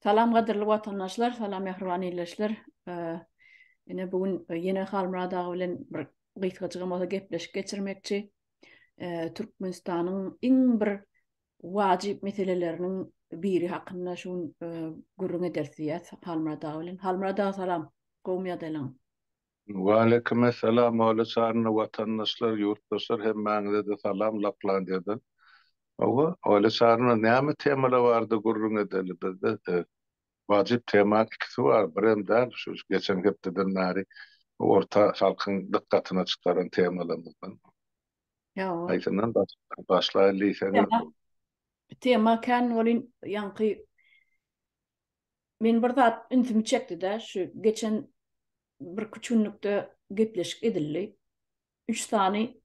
Salam gadyrly watandaşlar, salam mähriban ildeşler. Ine bu gün ýene Halmyrat aga bilen bir gysgajygam bolsa gepleşik geçirmekçi. Türkmenistanyň iň bir wajyp meseleleriniň biri hakynda şu gün gürrüň ederis diýýäs Halmyrat aga bilen. Halmyrat aga salam. Gowumy ýagdaýlaň? Waleýkimessalam Ola Çarynda watandaşlar ýurtdaşlar hemmäňizede salam Laplandiýadan. Hawa Ola Çarynda näme temalar bardy gürrüň edeli bizde wajyp tema ikisi bar birem däl şu geçen hepdeden bäri orta halkyň dykgatyna çykaran temalarymyzdan haýsyndan başlaýaly diýseňiz bu tema kän welin ýaňky Men bir zat ünsümi çekdi-de, şu geçen birküç günlükde gepleşik edildi. Üç sany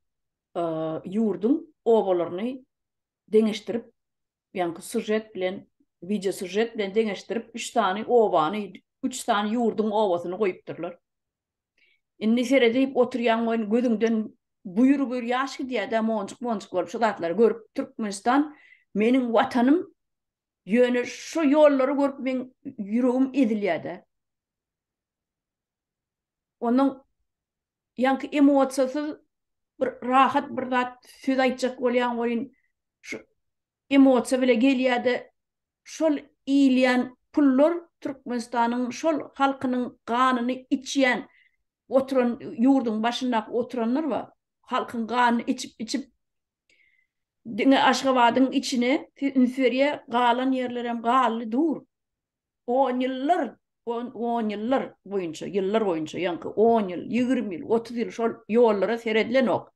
ýurduň obalaryny deňeşdirip, ýaňky sužet bilen, wideosužet bilen deňeşdirip, üç sany obany, üç sany ýurduň obasyny goýupdyrlar. Indi seredip oturýaň we gözüňden buýr-buýr ýaş gidýär-de, monjuk-monjuk bolup şu zatlary görüp, Türkmenistan meniň Watanym, Ýöne şu ýollary görüp meň ýüregim ezilýär-de. Onuň ýaňky emosiýasyz bir rahat bir zat söz aýtjak bolýan welin şu emosiýa bile gelýär-de şol iýilýän pullar Türkmenistanyň şol halkynyň ganyny içýän oturan ýurduň başyndaky oturanlar bar. Halkyň ganyny içip içip Diňe Aşgabadyň içine ünsberýä galan ýerlerem galdy dur. On ýyllar, on ýyllar boýunça, ýyllar boýunça, ýaňky on ýyl, ýigrimi ýyl, otuz ýyl şol ýollara seredilenok.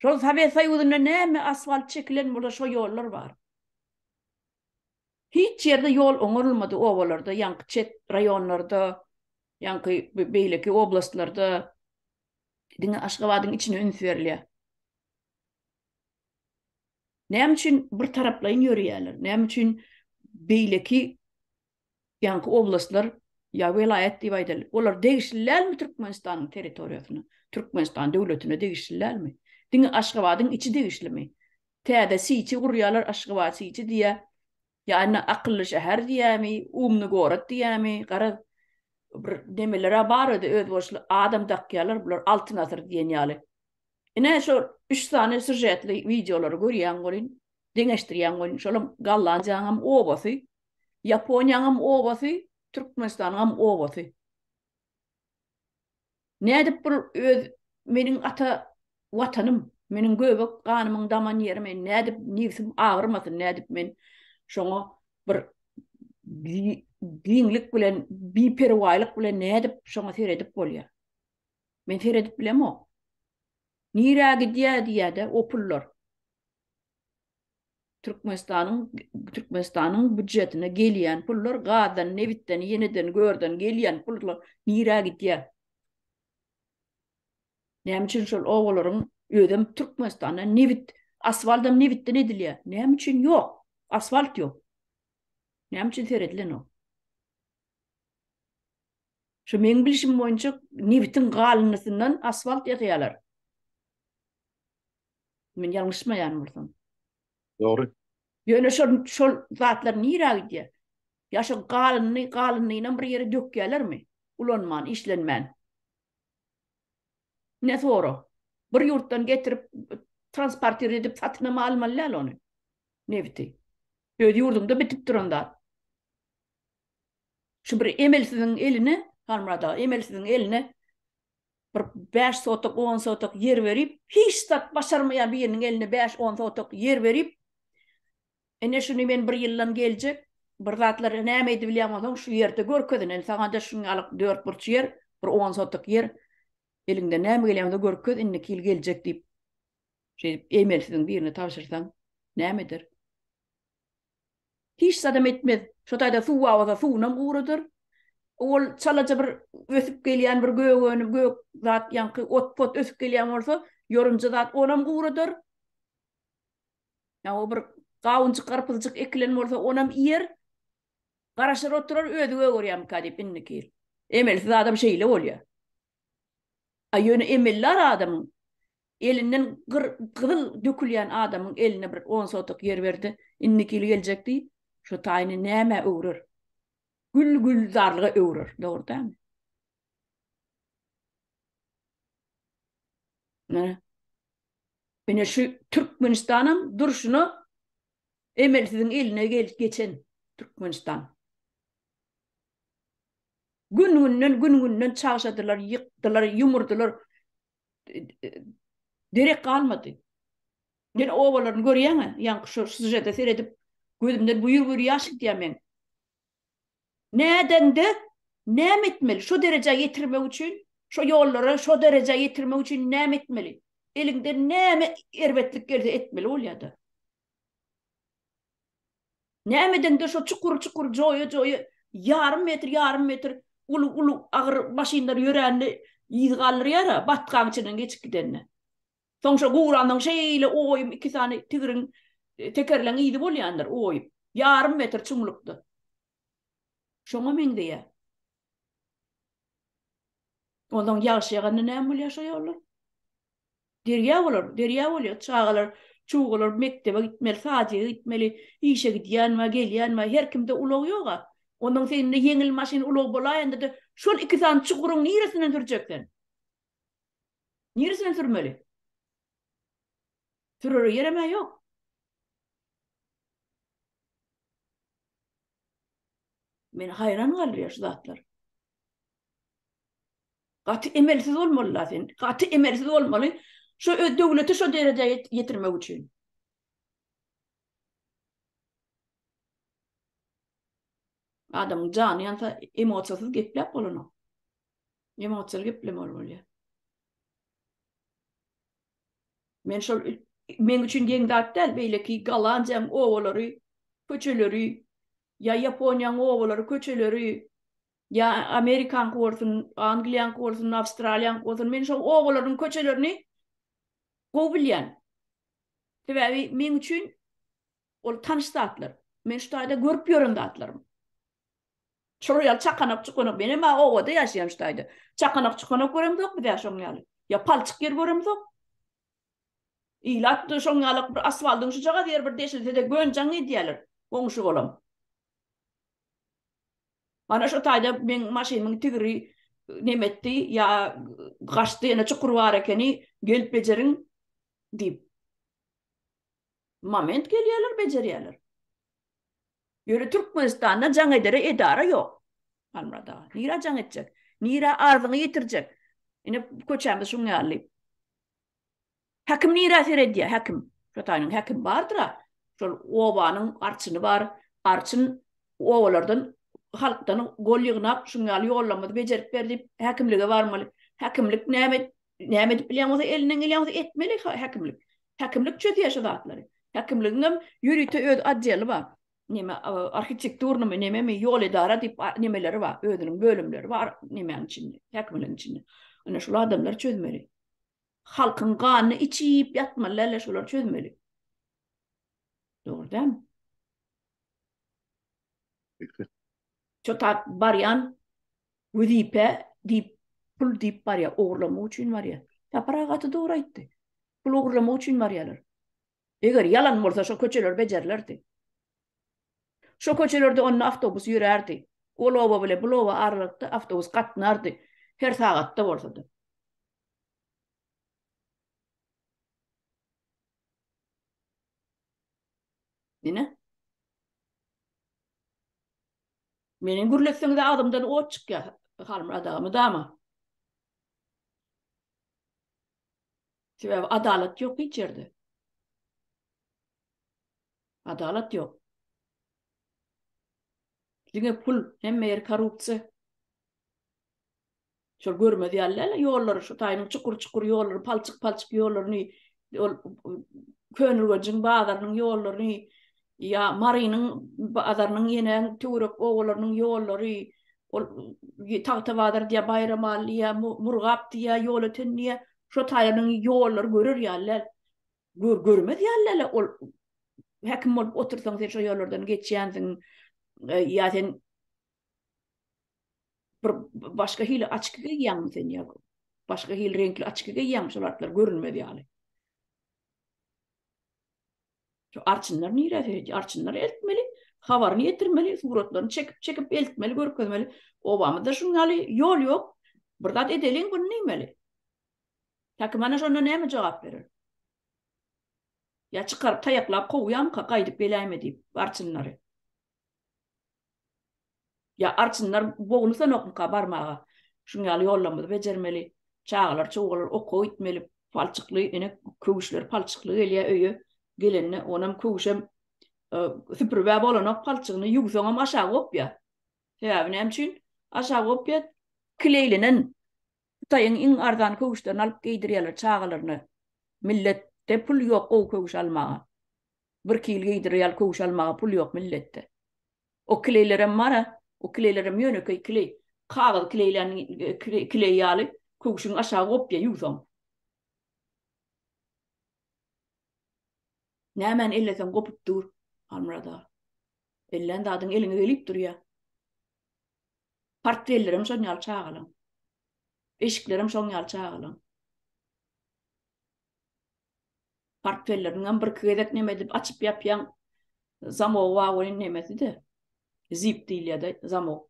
Şol Sowet Soýuzynda näme asfalt çekilen bolsa şo ýollar bar. Hiç ýerde ýol oňarylmady obalarda, ýaňky çet raýonlarda, ýaňky beýleki oblastlarda. Diňe Aşgabadyň içine üns berilýär. Näme üçin bir taraplaýyn ýörýärler? Näme üçin beýleki ýaňky oblastlar ýa welaýat diýip aýdaly, olar degişli dälmi Türkmenistanyň territoriýasyna, Türkmenistan döwletine degişli dälmi? Diňe Aşgabadyň içi degişlimi? Täze Siti gurýarlar, Aşgabat Siti diýýär. Ýa-da akylly şäher diýämi, umny gorod diýämi, garaz, bir nemeler-ä bar özi özboluşly adam dakýarlar, bular Altyn asyr diýen ýaly. Ine, şo üç sany sýužetli wideolary görýäň welin, deňeşdirýäň welin, şolam Gollandiýanyňam obasy, Ýaponiýanyňam obasy, Türkmenistanyňam obasy. Nädip bul öz meniň ata Watanym, meniň göbek ganymyň daman ýeri men nädip nibsim agyrmasyn, nädip men şoňa bir giňlik bilen, biperwaýlyk bilen nädip şoňa seredip bolýar. Men seredip bilemok. Nirä gidýär diýýär-de o pullar. Türkmenistanyň Türkmenistanyň býujetine gelýän pullar gazdan, nebitden, ýeneden görden gelýän pullar nirä gidýär? Näme üçin şol obalaryň özem Türkmenistanda nebit, asfaltam nebitden edilýär. Näme üçin ýok? Asfalt ýok. Näme üçin seredlenok? Şu meň bilişim boýunça nebitiň galyndysyndan asfalt ýasaýarlar. Men ýalňyşmaýan bolsam. Dogry. Ýöne şol şol zatlar nirä gidýär? Ýa şo galyny, galynynam bir ýere dökýärlermi? Ulanman, işlenmän. Ne sora? Bir ýurtdan getirip transportir edip satynam almaly däl ony. Nebiti. Öz ýurduňda bitip duran zat. Şu bir emelsiziň eline, Halmyrat aga, emelsiziň eline Bir bäş sotok, on sotok ýer berip, hiç zat başarmaýan biriniň eline bäş, on sotok ýer berip, Ine, şuny men bir ýyldan geljek bir zatlar näme edip bilýän bolsaň, şu ýerde görkez, ine, indi saňa-da şunýalyk dört burç ýer, bir on sotok ýer, eliňden näme gelýän bolsa görkez, indiki ýyl geljek diýip, şeýdip, eýmensiziň birine tabşyrsaň, näme eder? Hiç zadam etmez. Şo taýda suw awaza suwunam guradar. Ol çalaja bir ösüp gelýän bir gögöni, gök zat ýaňky ot-pot ösüp gelýän bolsa, ýorunja zat onam guradar. Ýa-o bir gawunjyk, garpyzjyk ekilen bolsa, onam iýer. Garaşar oturar, özi gögerýärmikä diýip indiki ýyl. Emelsiz adam şeýle bolýar. A ýöne emellar adamyň elinden gyr gyzyl dökülýän adamyň eline bir on sotok ýer berdi, indiki ýyl geljek diý, şo taýyny nämä öwrer? Gül gülzarlyga öwrer, dogry dämi? Nä? Ine şu Türkmenistanam durşuna emelsiziň eline geçen Türkmenistan. Gün-günden, gün-günden çagşadylar, ýykdylar, ýumurdylar. Derek galmady. Ýene obalaryny görýäň-ä, ýaňky şu sýužete seredip, gözümden buýr-buýr ýaş gidýär meň. Nädendi? Näme etmeli? Şo derejä ýetirmek üçin, şo ýollara şo derejä ýetirmek üçin näme etmeli? Eliňden näme erbetlik gelse etmeli bolýar-da. Nämedeňde şo çukur çukur joýa joýa ýarym metr ýarym metr uly uly agyr maşynlar ýörände yz galdyrýar a batgaň içinden geçip gidende. Soň şo gurandan şeýle oýum iki sany tigriň tekerleň yzy bolýandyr oýup. Ýarym metr çuňlukda. Şoňa meňzeýä. Ondan ýagşy ýaganda näme bolýar şo ýollar? Derýa bolar, derýa bolýar. Çagalar, çugalar mekdebe gitmeli, sadyga gitmeli, işe gidýän we gelýän we her kimde ulag ýog-a. Ondan sen indi ýeňil maşyn ulag bolaýanda-da şol iki sany çuguryň niresinden sürjek sen? Niresinden sürmeli? Sürere ýerem-ä ýok. Men haýran galýar şu zatlar. Gaty emelsiz bolmaly sen. Gaty emelsiz bolmaly. Şu öz döwleti şu derejä ýetirmek üçin. Adam jany ýansa emosiýasyz gepläp bolana. Emosiýaly geplemeli bolýar. Men şol men üçin geň zat däl, beýleki Galandiýaň owalary, köçeleri, Ýa Ýaponiýanyň obalary, köçeleri, ýa Amerikanyňky bolsun, Angliýanyňky bolsun, Awstraliýanyňky bolsun, men şol obalaryň köçelerini gowy bilýän. Sebäbi meň üçin ol tanyş zatlar. Men şu taýda görüp ýören zatlarym. Şolar ýaly çakanak-çukanak, men emma obada ýaşaýan şu taýda. Çakanak-çukanak göremzok biz-ä şoň ýaly. Ýa palçyk ýer göremzok. Ilat da şoň ýalak bir asfaldyň şujagaz ýeri bir deşilse-de gönjaň edýäler. Goňşy bolam. Mana şo taýda meň maşynymyň tigri neme etdi, ýa gaçdy, ýene çukur bar ekeni, gelip bejeriň diýip. Moment gelýäler, bejerýäler. Ýöne Türkmenistanda jaň edere edara ýok. Halmyrat aga, nirä jaň etjek? Nirä arzyňy ýetirjek? Ine köçämiz şuň ýaly. Häkim nirä seredýä, häkim? Şo taýynyň häkim bardyr-a. Şol obanyň arçyny bar. Arçyn obalardan, halkdan gol ýygnap, şuň ýaly ýollamady bejerip ber diýip, häkimlige barmaly. Häkimlik näme, näme edip bilýän bolsa, elinden gelýän bolsa etmeli häkimlik. Häkimlik çözýä şu zatlary. Häkimligiňem ýörite öz odeli bar. Neme, arhitekturnymy, nememi, ýol edara diýip nemeleri bar, özüniň bölümleri bar nemäň içinde, häkimligiň içinde. Ine, şul adamlar çözmeli. Halkyň ganyny içi ýiyip ýatmaly däl-le şolary çözmeli. Dogry dämi? Şu tap barýan wezipe diýip pul diýip barýar, ogurlamak üçin barýar. Sapar aga gaty dogry aýtdy. Pul ogurlamak üçin barýarlar. Eger ýalan bolsa şo köçeler bejerilerdi. Şo köçelerde onda awtobus ýörärdi. Ol oba bilen bul oba aralykda awtobus gatnardy. Her sagatda bolsady. Ine. Meni gürletseňiz agzymdan ot çykýar. Halmyrat aga mydama. Sebäbi adalat ýok hiç ýerde. Adalat ýok. Diňe pul, hemme ýer korrupsiýa. Şol görmez ýalylar ýollary, şu taýynyň çukur-çukur ýollary, palçyk-palçyk ýollaryny, ol Könürgenjiň bazarynyň ýollaryny, ýa Marynyň bazarynyň ýene töwerek obalarynyň ýollary, ol Tagtabazar diýýär, Baýramaly diýýär, Murgap diýýär, Ýolöten diýýär, Şo taýaryň ýollary görer ýaly gör görmez ýaly ol häkim bolup otursaň sen şo ýollardan geçýänsiň e, ýa sen bir başga hili açyk geýýäňmi sen ýa başga hili reňkli açyk geýýäňmi şol atlar görünmez ýaly. Şu arçynlar nirede? Arçynlary eltmeli, habaryny ýetirmeli, suratlaryny çekip çekip eltmeli, görkezmeli. Obamyzda şuň ýaly ýol ýok. Bir zat edeliň bunu neýmeli? Häkimhana şonda näme jogap berer? Ýa çykaryp taýaklap kowýamyka gaýdyp geläýme diýip arçynlary. Ýa arçynlar bognusanokmyka barmaga şuň ýaly ýollamyzy bejermeli çagalar çowgalar oka gitmeli palçykly ene köwüşler palçykly gelýä öýe gelende onam köwüşem süpüribä bolanok palçygyny ýuwsaňam aşa gopýa sebäbi näme üçin aşa gopýa kileýlenen Hytaýyň iň arzan köwüşlerini alyp geýdirýärler çagalaryna. Milletde pul ýok gowy köwüş almaga. Bir kil geýdirer ýaly köwüş almaga pul ýok milletde. O kleýlerem bar-a, o kleýlerem ýönekeý kleý. Kagyz kleýlän kleý ýaly köwüşiň aşagy gopýa ýuwsaň. Nämäni elleseň gopup dur, Halmyrat aga. Ellän zadyň eliňe gelip durýa. Portfellerem şon ýaly çagalaň. Eşiklerem şoň ýaly çagalaň. Portfelleriňem birki gezek neme edip açyp ýapýaň. Zamogy bar welin nemesi-de. Zip diýilýär-de zamok.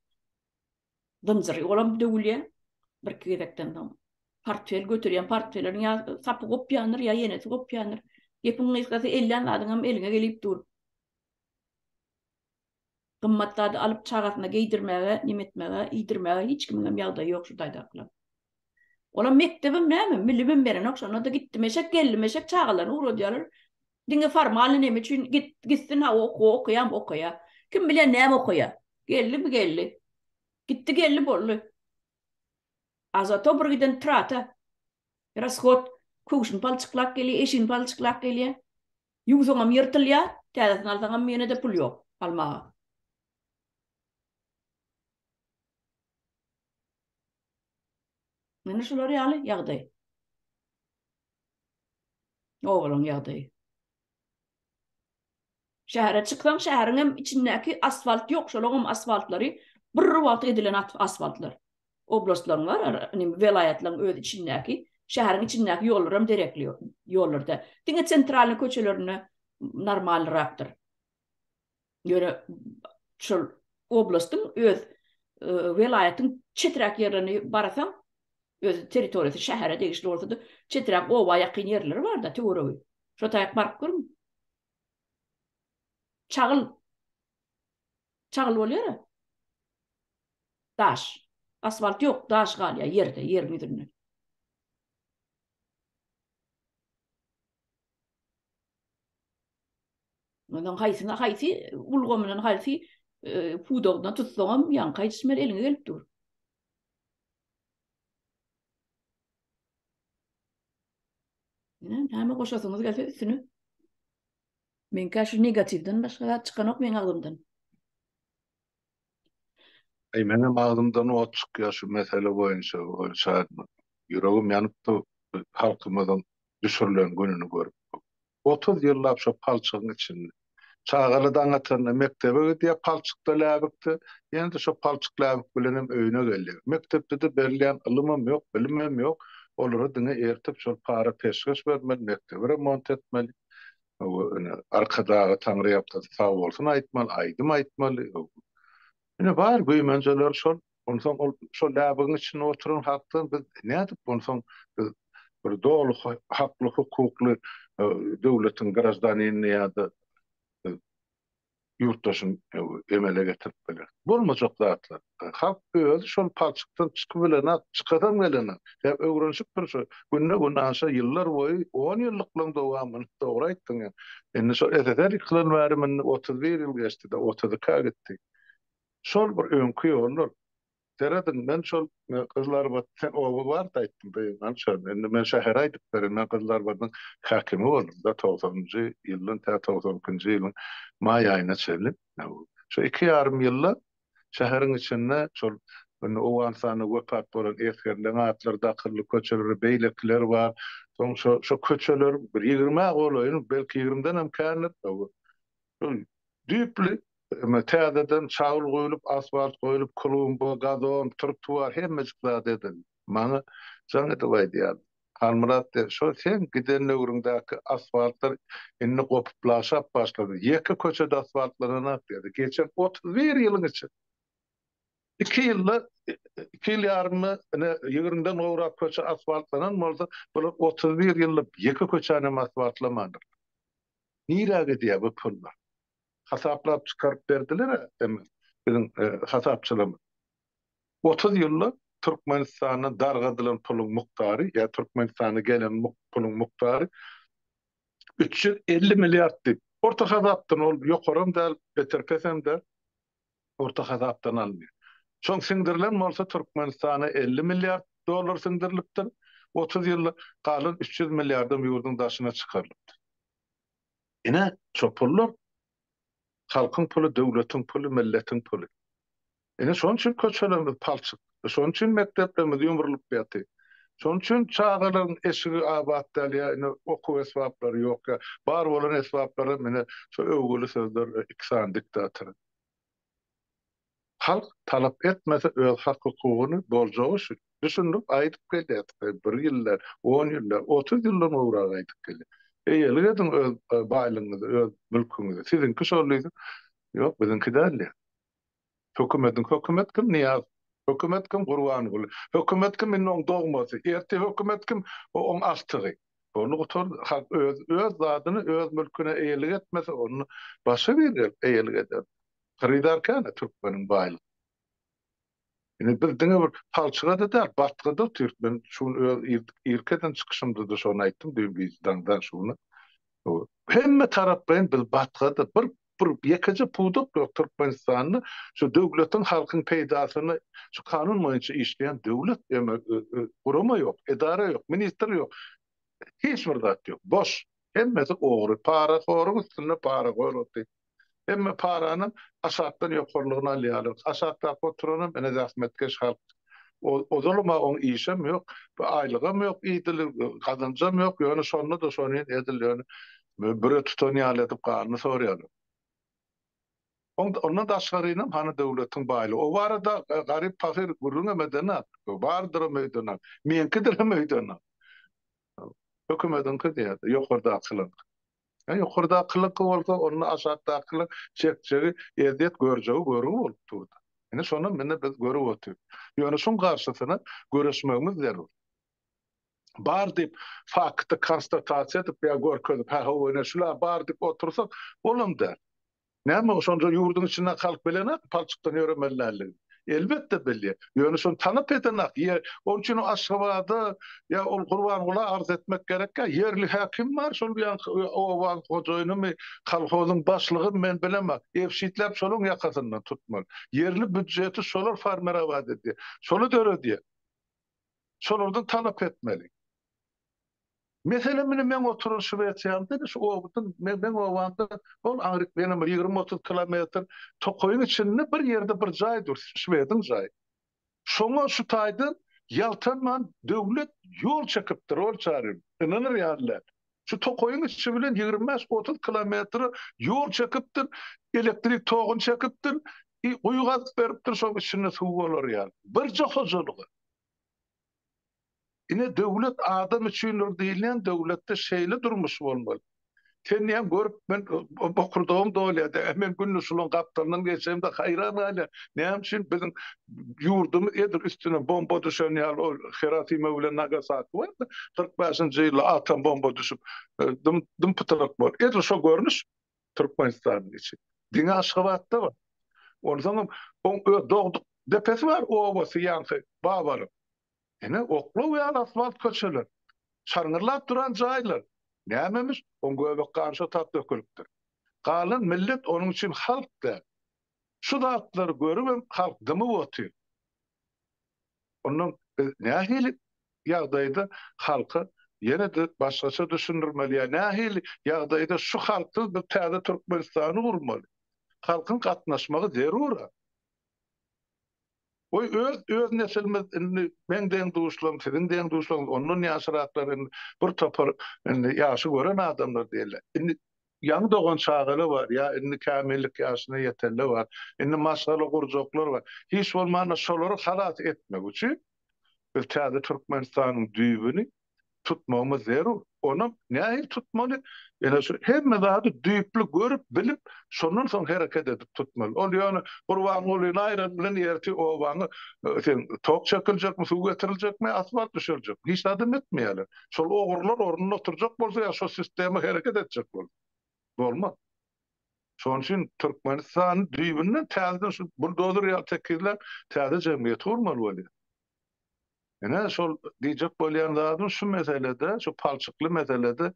Zynjyry olam döwülýär birki gezekden soň. Portfel göterýän portfelleriň ýa sapy gopýandyr, ýa ýenesi gopýandyr. Gepiň gysgasy ellän zadyňam eliňe gelip dur. Gymmat zady alyp çagasyna geýdirmäge, neme etmäge, iýdirmäge hiç kimiňem ýagdaýy ýok şu taýdakylaň. Olam mekdebem näme, milimem berenok, şonda-da gitdim eşek, geldim eşek, çagalaryny ugradýarlar. Diňe formalny neme üçin git, gitsin ha okuw okaýam okaýa. Kim bilýär näme okaýa. Geldi mi geldi. Gitdi geldi boldy. A zato bir giden trata, rashod, köwşüni palçyklap gelýär, eşigini palçyklap gelýär. Ýuwsaňam ýyrtylýar, täzesini alsaňam ýene-de pul ýok almaga. Ine şular ýaly ýagdaý. Obalaň ýagdaýy. Şähere çyksaň, şäheriňem içindäki asfalt ýok, şolaňam asfaltlary bir wagt edilen asfaltlar. oblastlaryň bar, welaýatlaryň öz içindäki, şäheriň içindäki ýollar hem derekli ýollar däl. Diňe sentralnyý köçelerinde normalnyrakdyr. Ýöne şol oblastyň öz welaýatyň çeträk ýerlerini barasaň, öz territoriýasy şähere degişli bolsa-da, çeträk oba ýakyn ýerleri bar-da, töweregi. Şo taýak baryp görüň. Çagyl. Çagly bolýara. Daş. Asfalt ýok, daş galýar ýerde, ýeriň ýüzünde. Ondan haýsyna haýsy ulgamynyň haýsy pudagyndan tutsaňam ýaňka ýetişmeli eliňe gelip dur. Näme goşasyňyz gelse üstüne. Meňkä şu negatiwden başga zat çykanok meň agzymdan. Eý menem agzymdan ot çykýar şu mesele boýunça ol şadyman. Ýüregim ýanyp dur bu halkymyzyň düşürilen gününi görüp. Otuz ýyllap şo palçygyň içinde. Çagaly daň atanda mekdebe gidýär palçykda läbikde. Ýene-de şo palçyk läbik bilenem öýüne gelýär. Mekdepde-de berilýän ylymam ýok, bilimem ýok. Olara diňe ertip şol para peşgeş bermeli, mekdebi remont etmeli. Hawa, ine, Arkadaga Taňryýalkasy sag bolsun aýtmaly, aýdym aýtmaly. Ine, bar güýmenjeler şol. Onsoň ol şol läbigiň içinde oturan halkdan biz nädip onsoň biz bir doly hakly-hukukly döwletiň graždanini ýa-da ýurtdaşyň emele getirip biler. Bolmajak zatlar. Halk özi şol palçykdan çykybilenok, çykasam gelenok. Sebäbi öwrenişipdir şu günde gün aşa ýyllar boýy on ýyllyklaň dowamyny dogry aýtdyň ýa. Indi şol SSR ýykylan bäri mindi otuz bir ýyl geçdi-de otuz iki-ä gitdi. Şol bir öňki ýollar. Serediň, men şol Gyzlarbat sen oba bar-da aýtdyň, Gyzgynç şol. Indi men şähere aýdyp berin, men Gyzlarbadyň häkimi boldum-da, togsanynjy ýyldan tä togsan ikinji ýylyň maý aýyna çenli. Şu iki ýarym ýylda şäheriň içinde şol indi Owganystanda wepat bolan esgerleň atlary dakyldy, köçelere beýlekiler bar. Soň şo köçeleriň bir ýigrimi-ä golaýyny, belki ýigrimden hem kändir, Şol düýpli emma täzeden çagyl guýlup, asfalt goýlup, klumba, gazon, trotuar hemmejik zat edildi. Maňa jaň edip aýdýardy. Halmyrat de, şo seň giden döwrüňdäki asfaltlar indi gopup laşap başlady. Ýeke köçe-de asfaltlananak diýdi. Geçen otuz bir ýylyň içinde iki ýylda, iki ýyl ýarymda ine ýigriminden gowrak köçe asfaltlanan bolsa, bular otuz bir ýyllyp ýeke köçänem asfaltlamandyrlar. Nirä gidýär bu pullar? Hasaplap çykaryp berdiler-ä eme biziň hasapçylarymyz. Otuz ýyllap Türkmenistandan dargadylan puluň mukdary ýa Türkmenistana gelen puluň mukdary üç ýüz elli milliard diýip, orta hasapdan ol ýokaram däl, beter pesem däl. orta hasapdan alynýar. Soň siňdirilen bolsa Türkmenistana elli milliard dollar siňdirilipdir, otuz ýylda galan üç ýüz milliardam ýurduň daşyna çykarylypdyr. Ine, şo pullar halkyň puly, döwletiň puly, milletiň puly. Ine, şonuň üçin köçelerimiz palçyk. Şonuň üçin mekdeplerimiz ýumrulyp ýaty. Şonuň üçin çagalaryň eşigi abat däl ýa ine okuw esbaplary ýok ýa bar bolan esbaplaram ine şu öwgüli sözler iki sany diktator. Halk talap etmese öz hak hukugyny boljagy üçin düşündirip aýdyp gelýärdik he bir ýyldan on ýyldan otuz ýyldan gowrak aýdyp gelýär. Eýelik ediň öz baýlygyňyzy öz mülküňizi siziňki şol diýse ýok biziňki däl diýýär. Hökümediň Hökümet kim Nyýaz Hökümet kim Gurbanguly Hökümet kim indi oň dogmasy ertir Hökümet kim o oň agtygy Ony gutardy halk öz öz zadyny öz mülküne eýelik etmese ony başga bir eýelik eder Hyrydar kän a türkmeniň baýlyk Indi biz diňe bir palçygada däl batgada otyryk men şu gün öz irki eden çykyşymdada şony aýtdym düýn gije daňdan şu güne hemme taraplaýyn biz batgada bir bir ýekeje pudak ýok Türkmenistanda şu döwletiň halkyň peýdasyna şu kanun boýunça işleýän döwlet eme gurama ýok edara ýok ministr ýok hiç bir zat ýok boş hemmesi ogry para horuň üstünde para goýulupdy hemme parany aşakdan ýokarlygyna alýarlar aşakdaky oturanam ene zähmetkeş halk Ozalama oň işem ýok, bir aýlygam ýok idil, gazanjam ýok, ýöne şonda-da şonyn edil ýöne büre tutan ýaly edip ganyny sorýarlar. Ondan daşgarynam hany döwletiň baýlygy? O barada garyp pahyr gürrüňem edenok, bardyram öýdenok, meňkidirem öýdenok. Hökümediňki diýýärdi, ýokardakylaryňky. Ýa ýokardakylyňky bolsa, onda aşakdakylar çekjegi ezýet görjegi görgi bolup durdy. Ine, şonam indi biz görüp otyr. Ýöne şuň garşysyna göreşmegimiz zerur. Bar diýip, fakty konstatasiýa edip ýa görkezip, hä-hawa, ine, şular bar diýip otursak, bolam däl. Näme, şonda ýurduň içinden halk bilenok palçykdan ýöremeli däldigini? Elbetde bilýär. Ýöne şony tanap edenok. Ýe, onuň üçinem Aşgabada ýa ol Gurbangula arz etmek gerekkä? Ýerli häkim bar, şol ýaňky obaň hojaýynymy, kolhozyň başlygymy men bilemok. Ebşitläp şolaň ýakasyndan tutmaly. Ýerli býudjeti şolar formirować edýär. Şoly döredýär. Şolardan talap etmeli. Meselem, indi meň oturan Şwesiýamda indi şu obadym, me, meň obamda ol aňryk menem bir ýigrimi-otuz kilometr tokaýyň içinde bir ýerde bir jaý dur, şwediň jaýy. Şoňa şu taýdan ýaltanman döwlet ýol çekipdir, ol çaryň, ynanyr ýaly däl. Şu tokaýyň içi bilen ýigrimi bäş, otuz kilometr ýol çekipdir, elektrik toguny çekipdir, i, guýy gazyp beripdir, şoň içinde suw bolar ýaly. Birje hojalyga. Ine döwlet adam üçindir diýilýän döwletde şeýle durmuş bolmaly. Sen diýýän görüp men bokurdagym dolýada. Men günde şulaň gapdalyndan geçemde haýran galýan. Näme üçin biziň ýurdumyz edil üstüne bomba düşen ýaly ol Hirosima bilen Nagasaki barda kyrk bäşinji ýylda atom bomba düşüp dym dym pytyrak boldy. Edil şo görnüş. Türkmenistanyň içi. Diňe Aşgabatda bar. Onsoňam oň öz dogduk depesi bar, obasy ýaňky Babaryň. Ine, oklaw ýaly asfalt köçeler. Şarňyrlap duran jaýlar. Nämemiş, oň göbek gany şo tap dökülipdir. Galan millet onuň üçin halk däl. Şu zatlary görübem halk dymyp otyr. Ondan biz nähili ýagdaýda halka ýene-de başgaça düşündirmeli ýa nähili ýagdaýda şu halksyz biz täze Türkmenistany gurmaly? Halkyň gatnaşmagy zerur-a. Goý, öz öz nesilimiz indi meň deň-duşlarym, siziň deň-duşlaryňyz, ondan ýaşyraklar indi bir topar indi ýaşy gören adamlar diýeli. Indi Ýaňy dogan çagaly bar ýa indi kämillik ýaşyna ýetenle bar. Indi maşgala gurjaklar bar. Hiç bolmanda şolary halas etmek üçin biz täze Türkmenistanyň düýbüni tutmagymyz zerur. Onam nähili tutmaly? Ýene şu hemme zady düýpli görüp, bilip, şondan soň hereket edip tutmaly. Ol ýöne Gurbangulyny aýran bilen ertir obaňa sen tok çekiljekmi, suw getiriljekmi, asfalt düşüriljekmi? Hiç zadam etmeýärler. Şol ogrular ornunda oturjak bolsa ýa şo sistema hereket etjek bolsa. Bolmaz. Şonuň üçin Türkmenistany düýbünden täzeden şu buldozer ýaly tekizläp täze jemgyýeti gurmaly bolýar. Ine şol diýjek bolýan zadym şu meselede, şu palçykly meselede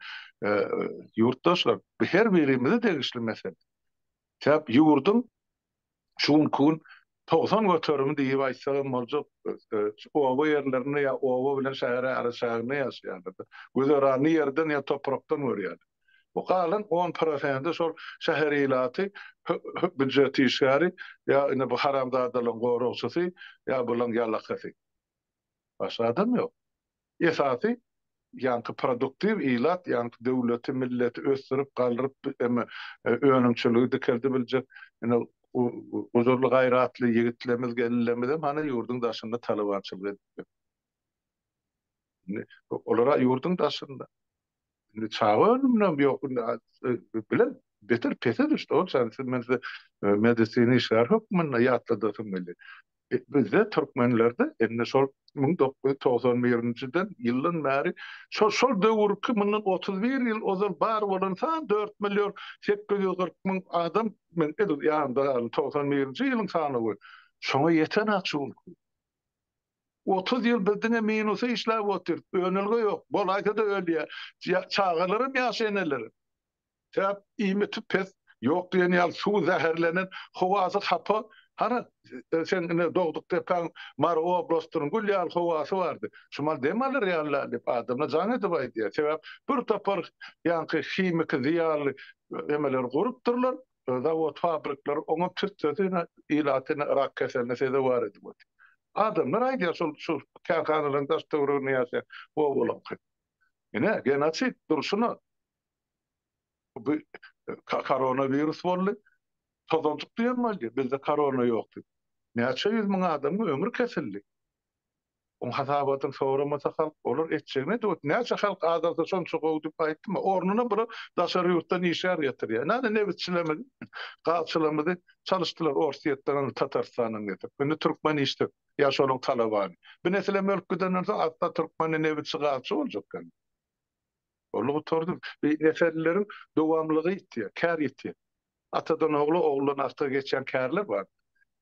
ýurtdaşlar, bu her birimize degişli mesele. Çep ýurduň şu günki gün togsan göterimi diýip aýtsak hem boljak oba ýerlerinde ýa oba bilen şäheriň araçäginde ýaşaýarlar. Güzeranyny ýerden ýa toprakdan görýärler. Bu galan on prosenti şol şäher ilaty, býujet işgäri ýa indi bu haramzadalaryň goragçysy ýa bularyň ýalakasy. Başga adam ýok. Esasy ýaňky produktiw ilat, ýaňky döwleti, milleti ösdürip, galryp, em önümçiligi dikeldi biljek ene u uzurly gaýratly ýigitlerimiz, gelinlerimizem hany ýurduň daşynda talabançylyk edipdir. Indi olara ýurduň daşynda Indi çaga ölüminem ýok. Indi bilen beter pese düşdi. Ol çany siz men size medisina işgäri hökmünde ýatladasym geldi. Bizde türkmenlerde indi şol müň dokuz ýüz togsan birinjiden ýyldan bäri şol şol döwürki mundan otuz bir ýyl ozal bar bolan san dört million sekiz ýüz kyrk müň adam men edil ýanymda galdy togsan birinji ýylyň sanawy şoňa ýeten-ä şul. Otuz ýyl biz diňe minusa işläp otyrs, önelge ýok, bolaýsa-da ölýär, çagalaram ýaş eneler. Sebäp iýmiti pes, ýok diýen ýaly suwy zäherlenen, howasy hapa, hany seň ine dogduk-depäň Mary oblastynyň gül ýaly howasy bardy, şumal dem alar ýaly-la diýip adamlar jaň edip aýdýar. Sebäp bir topar ýaňky himiki zyýanly emeleri gurupdyrlar. zawod fabrikler oňa türtsesi ilaty rak keseline sezewar edip otyr. Adamlar aýdýar şol şu kärhanalaryň daş töwereginde ýaşaýan obalyňky. Ine genosid durşuna. Bu korona wirus boldy. Tozanjyk diýen boldy. Bizde korona ýokdy. Näçe ýüz müň adamyň ömri kesildi. Oň hasabatyny soramasa halk, olar etjegine döwet. Näçe halk azalsa şonça gowy diýip aýtdyma. Ornuna bular daşary ýurtdan işgär getirýär. Nädip nebitçilerimizi, gazçylarymyzy çalyşdylar Orsýetden, Tatarstandan getirip. Indi türkmen işsizk. Ýa şonuň talabany. Bu nesil hem ölüp gidenden soň asla türkmende nebitçi, gazçy boljak däldir. Walla gutardym. Beý neserlileriň dowamlygy ýitýär. Kär ýitýär. Atadan ogla, oguldan ata geçýän kärler bar.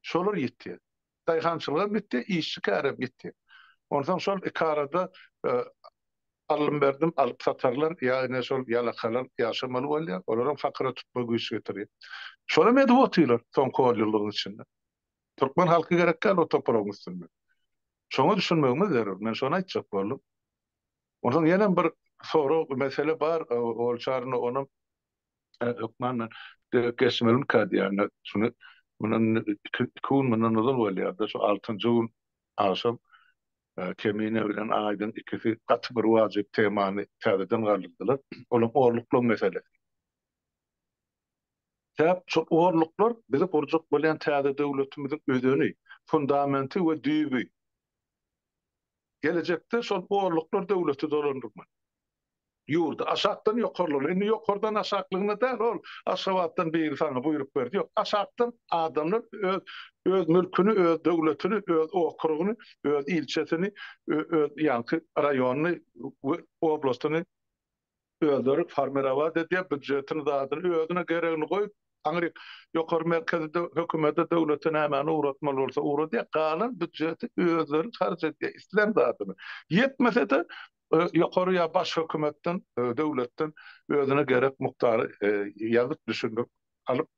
Şolar ýitýär. Daýhançylygam gitdi, işçi kärem gitdi. Onsoň şol iki arada alym-berdim alyp-satarlar ýa ine şol ýalakalar ýaşamaly bolýar, olaram fakyra tutma güýç getirýär. Şolam edip otyrlar soňky on ýyllygyň içinde. Türkmen halky gerek däl o topragyň üstünde. Şoňa düşünmegimiz zerur. Men şony aýtjak boldum. Onsoň ýenem bir sorag, mesele bar, ol çarynda onam Hökman geçmeliň ka diýýärler. Şuny mundan iki gün mundan ozal bolýardy. Şu altynjy gün agşam Kemine bilen Aýdyň ikisi gaty bir wajyp temany täzeden galdyrdylar. Olam orluklar meselesi. Sebäp şol orluklar bizi gurjak bolýan täze döwletimiziň özeni, fundamenti we düýbi. Gelejekde şol borluklar döwlete dolandyrman. Ýurdy aşakdan ýokarlygyna, indi ýokardan aşaklygyna däl, ol Aşgabatdan biri saňa buýruk berdi, ýok, aşakdan adamlar öz öz mülküni, öz döwletini, öz okrugyny, öz ilçesini, ö öz ýaňky raýonyny we oblastyny, Özleri formirawat edýär býudjetini zadyny özüne geregini goýup aňry ýokary merkezede hökümede döwlete nämäni ugratmaly bolsa ugradýar galan býudjeti özleri harç edýär islän zadyny ýetmesede ýokary ýa baş hökümetden döwletden özüne gerek mukdary ýazyp düşündirip alyp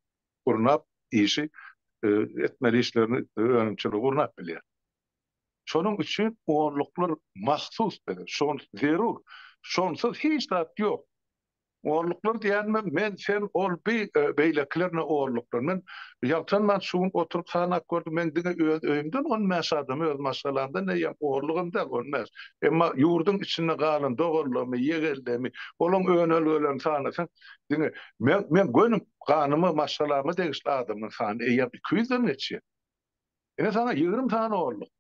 gurnap işi etmeli işlerini önümçiligi gurnap bilýär. Şonuň üçin onluklar mahsus bize, şol zerur. Şonsuz hiç zat ýok. Onluklar diýenime men, sen, ol, bi, beýlekiler ne onluklar. Men ýaltanman şu gün oturyp sanap gördüm, men diňe öz öýümden on bäş adamy, öz maşgalamdan näýem, onlugam däl, on bäş. Emma ýurduň içinde galan doganlarymy, ýegenlerimi, olaryň önelgelerini sanasaň, diňe men, men göni ganyma, maşgalama degişli adamyň sany eýýäm iki ýüzden geçýär. Ine saňa ýigrimi sany olluk.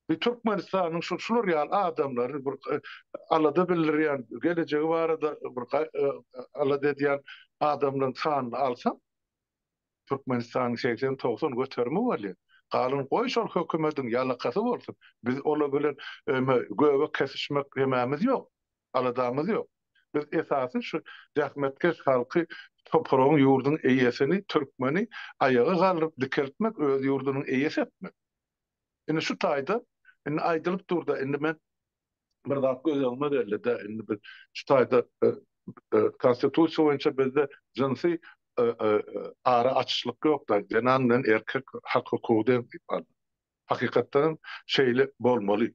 Biz Türkmenistanyň şul şular ýaly adamlary bir alada bildirýän, gelejegi barada bir alada edýän adamlaryň sanyny alsaň, Türkmenistanyň segsen, togsan göterimi bolýar. Galan goý şol hökümediň ýalakasy bolsun. Biz olar bilen göbek kesişmek hemämiz ýok. aladamyz ýok. Biz esasy şu zähmetkeş halky, topragyň, ýurduň eýesini, türkmeni aýaga galdyryp dikeltmek, öz ýurdunyň eýesi etmek. Indi şu taýda, indi aýdylyp dur-da, indi men bir zat göz öňüme geldi-de, indi biz şu taýda Konstitusiýa boýunça bizde jynsy ara açyşlyk ýok-da, zenan bilen erkek hak-hukugy deň diýip alnyp. Hakykatdanam şeýle bolmaly.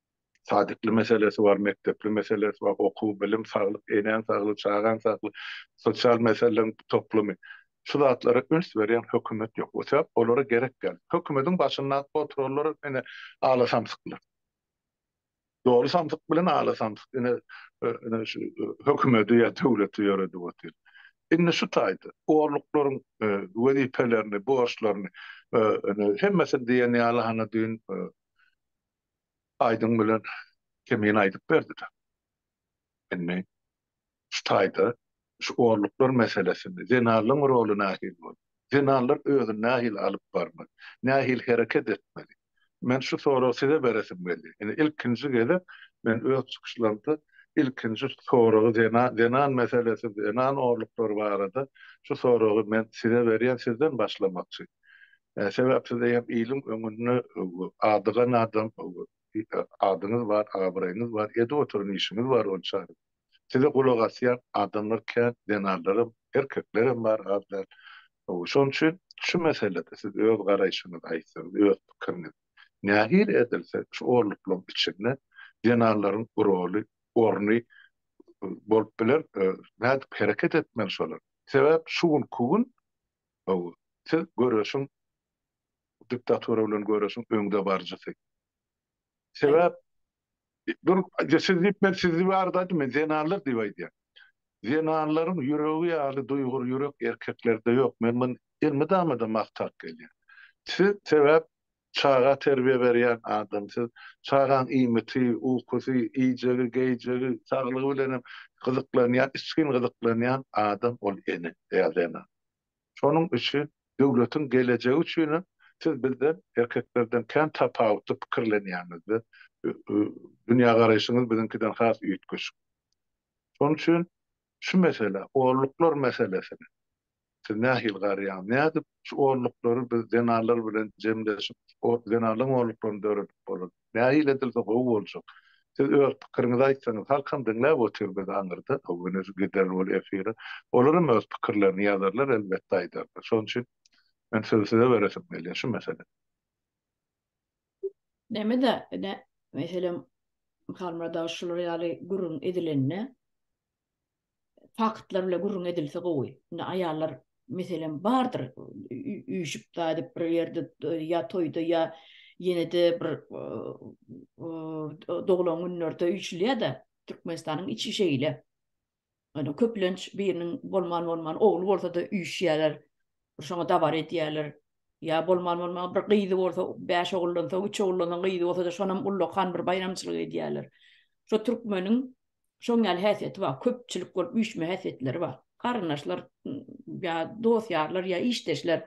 sadikli meselesi bar, mekdepli meselesi bar, okuw, bilim, saglyk, enäň saglygy, çagaň saglygy, sosial meseleleriň toplumy. Şu zatlara üns berýän hökümet ýok. O sebäp olara gerek däl. Hökümediň başynda oturanlar ine ala samsyklar. Doly samsyk bilen ala samsyk ine ine şu hökümedi ýa döwleti ýöredip otyr. Indi şu taýda orluklaryň wezipelerini, borçlaryny ine hemmesini diýen ýaly hany düýn Aýdym bilen Kemin aýdyp berdida. Indi şu taýda şu orluklar meselesini, zenanlaň roly nähili bolmaly? Zenanlar özüni nähili alyp barmaly? Nähili hereket etmeli? Men şu soragy size beresim geldi. Indi ilkinji gezek men öz çykyşlarymda ilkinji soragy zenan zenan meselesi, zenan orluklary barada şu soragy men size berýän sizden başlamakçy. Sebäp size hem iliň öňünde adygan adam, adyňyz bar, abraýyňyz bar, edip oturan işiňiz bar ol çagyň. Size gulak asýan adamlar kän, zenanlaram, erkeklerem bar az däl. Şonuň üçin şu meselede siz öz garaýşyňyzy aýtsaňyz, öz pikiriňizi. Nähili edilse şu orluklaryň içinde zenanlaryň roly, orny bolup biler, nädip hereket etmeli şolar? Sebäp şu günki gün Hawa, siz göreşiň diktatura bilen göreşiň öňdebaryjysy. Sebäp dur siz diýip men siz diýip arz aýtdym men zenanlar diýip aýdýan. Zenanlaryň ýüregi ýaly duýgur ýürek erkeklerde ýok men muny elmydama-da magtap gelýän. Siz sebäp Çaga terbiýe berýän adam siz. Çagaň iýmiti, ukusy, iýjegi, geýjegi, saglygy bilenem gyzyklanýan, içgin gyzyklanýan adam ol ene ýa zenan. Şonuň üçin döwletiň gelejegi üçinem siz bizden, erkeklerden kän tapawutly pikirlenýäňizde, dünýägaraýşyňyz biziňkiden has üýtgeşik. Şonuň üçin Şu mesele, olluklar meselesine siz nähili garaýaňyz? Nädip şu olluklary biz zenanlar bilen jemleşip, zenanlaryň olluklaryny döredip bolar? Nähili edilse gowy boljak? Siz öz pikiriňizi aýtsaňyz, halkam diňläp otyr biz aňyrda, wenez gideris ol efire, olaram öz pikirlerini ýazarlar, elbetde aýdarlar. Şonuň üçin men sözi size beresim gelýär şu meselede. Näme-de, ine, meselem, Halmyrada şular ýaly gürrüň edilende, faktlar bilen gürrüň edilse gowy. Indi aýallar, meselem, bardyr, üýşüp daýdyp bir ýerde, ýa toýda, ýa ýene-de bir doglan günlerde üýşülýär-de, Türkmenistanyň içi şeýle. Ýöne köplenç biriniň bolman-bolman ogly bolsa-da üýşýärler. Şoňa dabara edýärler. Ýa bolman-bolman bir gyzy bolsa, bäş oguldan soň, üç oguldan soň gyzy bolsa-da şonam ullakan bir baýramçylyk edýärler. Şo türkmeniň şoň ýaly häsiýeti bar. Köpçülik bolup üýşme häsiýetleri bar. Garyndaşlar ýa dost-ýarlar ýa işdeşler,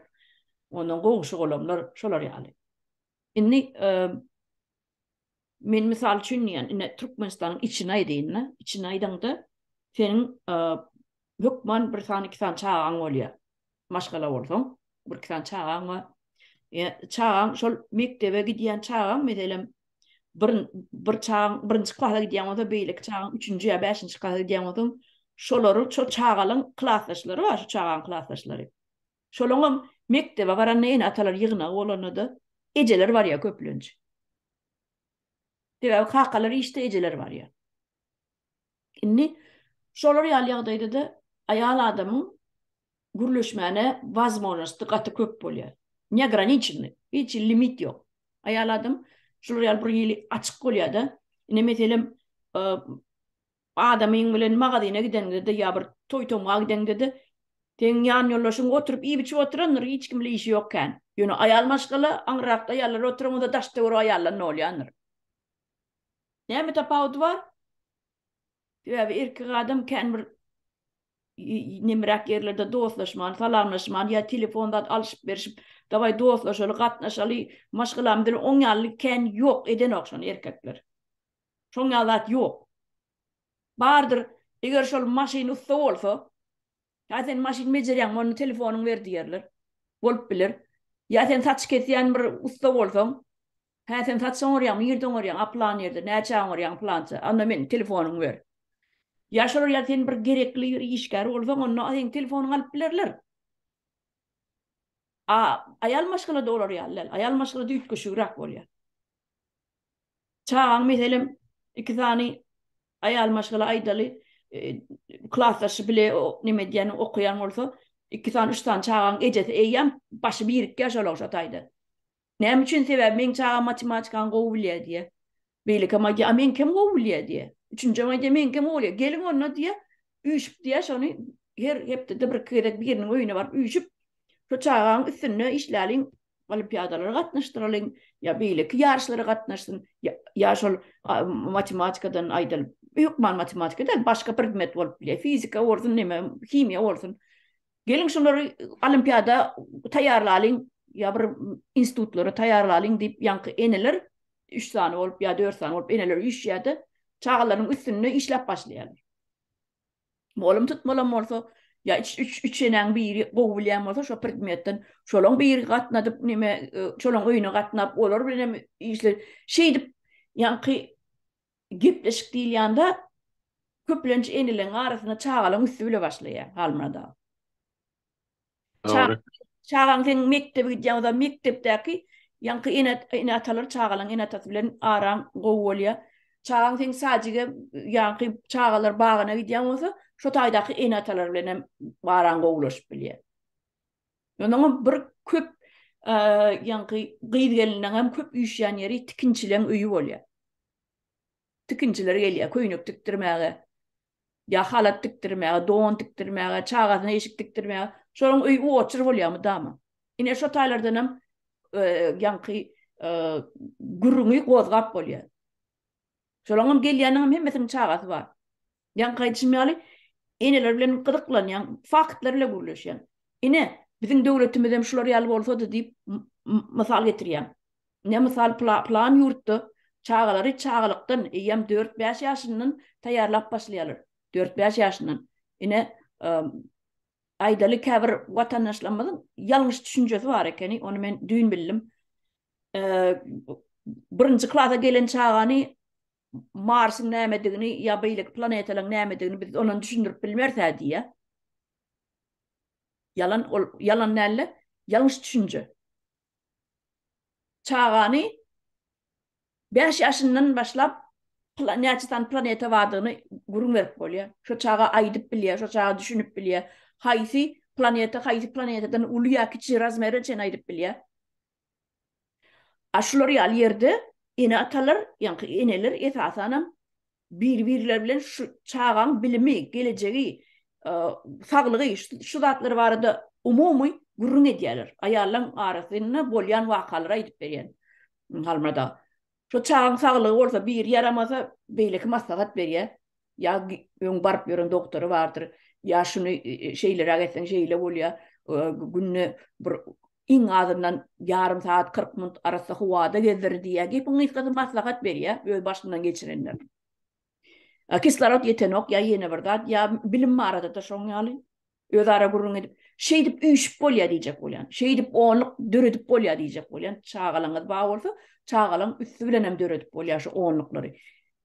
ondan goňşy-golamlar şolar ýaly. Indi Men mysal üçin diýýän, ine Türkmenistanyň içini aýdaýyn-da, içini aýdaňda, seniň hökman bir sany, iki sany çagaň bolýar. Maşgala bolsaň, bir-iki sany çagaň bar. Çagaň şol mekdebe gidýän çagaň, meselem, bir bir çagaň birinji klasa gidýän bolsa, beýleki çagaň üçünji ýa bäşinji klasa gidýän bolsa, şolaryň, şo çagalaň klasdaşlary bar, şu çagaň klasdaşlary. Şolaňam mekdebe baranda ene-atalar ýygnagy bolanda-da, ejeler barýar köplenç. Sebäbi kakalar işde, ejeler barýar. Indi şolar ýaly ýagdaýda-da aýal adamyň gürleşmäne wazmožnosti gaty köp bolýar. Neograniçennyý, hiç hili limit ýok. Aýal adam şular ýaly bir hili açyk bolýar-da. Ine, meselem, Adamyň bilen magazyna gideňde-de ýa bir toý-tomga gideňde-de, seniň ýanýoldaşyň oturyp iýip-içip oturandyr, hiç kim bilen işi ýok kän. Ýöne aýal maşgala, aňrakda aýallar oturan bolsa daşda görüp aýallar nolýandyr. Näme tapawudy bar? Sebäbi erkek adam kän bir nemeräk ýerlerde dostlaşman, salamlaşman ýa telefon zat alşyp-berşip, dawaý dostlaşaly, gatnaşaly, maşgalamyz bilen oň ýaly kän ýok, edenok şony erkekler. Şoň ýaly zat ýok. Bardyr, eger şol maşyn ussa bolsa, Ýa sen maşyn bejerýäňmi, onda telefonyňy ber diýerler. Bolup biler. Ýa sen saç kesýän bir ussa bolsaň, Hä, sen saç oňarýaňmy, nirde oňarýaň, a plan ýerde, näçä oňarýaň, plança, onda meniň telefonymy ber. Ýa şolar ýa sen bir gerekli bir işgär bolsaň, onda seniň telefonyňy alyp bilerler. A aýal maşgala-da olar ýaly däl. Aýal maşgalada üýtgeşigräk bolýar. Çagaň meselem iki sany aýal maşgala aýdaly klasdaşy bile neme edýän okaýan bolsa iki sany üç sany çagaň ejesi eýýäm başy birikýär şol ogşa taýda. Näme üçin sebäbi meň çagam matematikany gowy bilýär diýýär. Beýlekam aýdýar a meňkem gowy bilýär diýýär. Üçünjem aýdýar meňkem gowy bilýär. Geliň onda diýýär üýşüp diýýär şony her hepdede bir iki gezek biriniň öýüne baryp üýşüp şu çagaň üstünde işläliň olimpiadalara gatnaşdyralyň, ýa beýleki ýaryşlara gatnaşsyn, ýa şol matematikadan aýdalyň, hökman matematika däl, başga predmet bolup bilýär, fizika bolsun, näme, himiýa bolsun. Geliň şulary olimpiada taýýarlalyň, ýa bir institutlara taýýarlalyň diýip, ýaňky eneler üç sany bolup ýa dört sany bolup eneler üýşýär-de, çagalaryň üstünde işläp başlaýarlar. Mugallym tutmalan bolsa, ýa üç üç üç enäň biri gowy bilýän bolsa şo predmetden, şolaň biri gatnadyp nime, e, şolaň öýüne gatnap, olar bilen hem işle. Şeýdip, ýaňky gepleşik diýilýän zat köplenç eneleň arasynda çagalaň üsti bile başlaýar, Halmyrat aga. Dogry. Çagaň seň mekdebe gidýän bolsa, mekdepdäki ýaňky ene ene-atalar çagalaryň ene-atasy bilen araň gowy bolýar. Çagaň seň sadjige ýaňky çagalar bagyna gidýän bolsa, şo taýdaky ene-atalar bilen hem araň gowulaşyp bilýär. Ýöne bir köp ýaňky gyz-geliniň hem köp üýşýän ýeri tikinçileň öýi bolýar. tikinçiler gelýär köýnek tikdirmäge, ýa halat tikdirmäge, don tikdirmäge, çagasyna eşik tikdirmäge. Şolaryň öýi uoçer bolýar mydama. Ine şo taýlardan hem ýaňky gürrüňi gozgap bolýar. Şolaryň hem gelýäniniň hem hemmesiniň çagasy bar. Ýaňky aýdyşym ýaly, eneler bilen gyzyklanýaň, faktlar ile gürleşýäň. Ine, biziň döwletimizem şular ýaly bolsady diýip mysal getirýäň. Ine, mysal, pylan ýurtda çagalary çagalykdan, eýýäm dört-bäş ýaşyndan taýýarlap başlaýarlar. Dört-bäş ýaşyndan. Ine, aýdaly, käbir watandaşlarymyzyň ýalňyş düşünjesi bar ekeni, ony men düýn bildim. Birinji klasa gelen çagany Marsyň nämedigini ýa beýleki planetalaryň nämedigini biz ondan düşündirip bilmerse diýýär. Ýalan ol ýalan nälle, ýalňyş düşünje. Çagany 5 ýaşyndan başlap näçe sany planeta bardygyny gürrüň berip bolýar. Şo çaga aýdyp bilýär, şo çaga düşünip bilýär. Haýsy planeta, haýsy planetadan uly ýa kiçi razmere çenli aýdyp bilýär. A şular ýaly ýerde ene-atalar, ýaňky eneler esasanam bir-birleri bilen şu çagaň bilimi, gelejegi, saglygy, şu zatlar barada umumy gürrüň edýärler. Aýallaryň arasynda bolýan wakalary aýdyp berýän Halmyrat aga. Şo çagyň saglygy bolsa biri ýaramasa beýleki maslahat berýär. Ýa öň baryp ýören doktory bardyr, ýa şuny şeýleräk etseň şeýle bolýar, günde bir iň azyndan ýarym sagat kyrk minut arassa howada gezdir diýýär. Gepiň gysgasy maslahat berýär öz başyndan geçirenler. Kislorod ýetenok ýa ýene bir zat, ýa bilim barada-da şoň ýaly. Özara gürrüň edip, Şeýdip üýşüp bolýar diýjek bolýan. Şeýdip onluk döredip bolýar diýjek bolýan. Çagalaryňyz bar bolsa, çagalaryň üsti bilen hem döredip bolýar şu onluklary.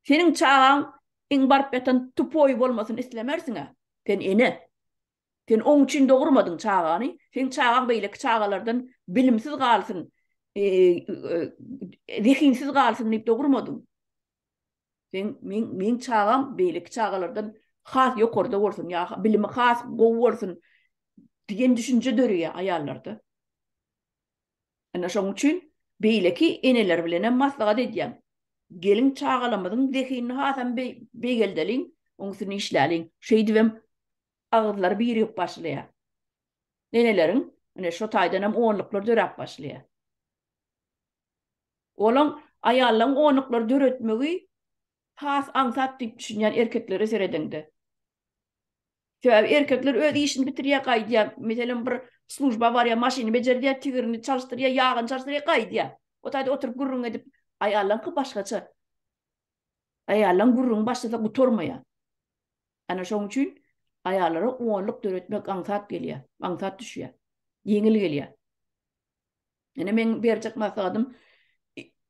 Seniň çagaň iň baryp ýatan tupoýy bolmasyny islemersiň-ä. Sen ene. Sen oň üçin dogurmadyň çagany. Seň çagaň beýleki çagalardan bilimsiz galsyn, zehinsiz galsyn diýip dogurmadyň. Sen men men çagam beýleki çagalardan has ýokarda bolsun ýa bilimi has gowy bolsun diýen düşünje döreýär aýallarda. Ana şonuň üçin beýleki eneler bilen hem maslahat edýän. Gelin çagalamyzyň zehinini hasam beýgeldeliň, oň üstünde işläliň. Şeýdip hem agyzlary birigip başlaýar. Eneleriň ine şo taýdan hem onluklar döräp başlaýar. Olaň aýallaň onuklary döretmegi has aňsat diýip düşünýän erkeklere seredeňde. Sebäbi erkekler öz işini bitirýär gaýdýar, meselem bir služba barýar, maşyny bejerdýär, tigirini çalyşdyrýar, ýagyny çalyşdyrýar, gaýdýar. O taýda oturyp gürrüň edip, aýallaňky başgaça. Aýallaň gürrüňi başlasa gutarmaýar. Ana şoň üçin aýallara onluk döretmek aňsat gelýär, aňsat düşýär, ýeňil gelýär. Ýöne meň berjek maslahatym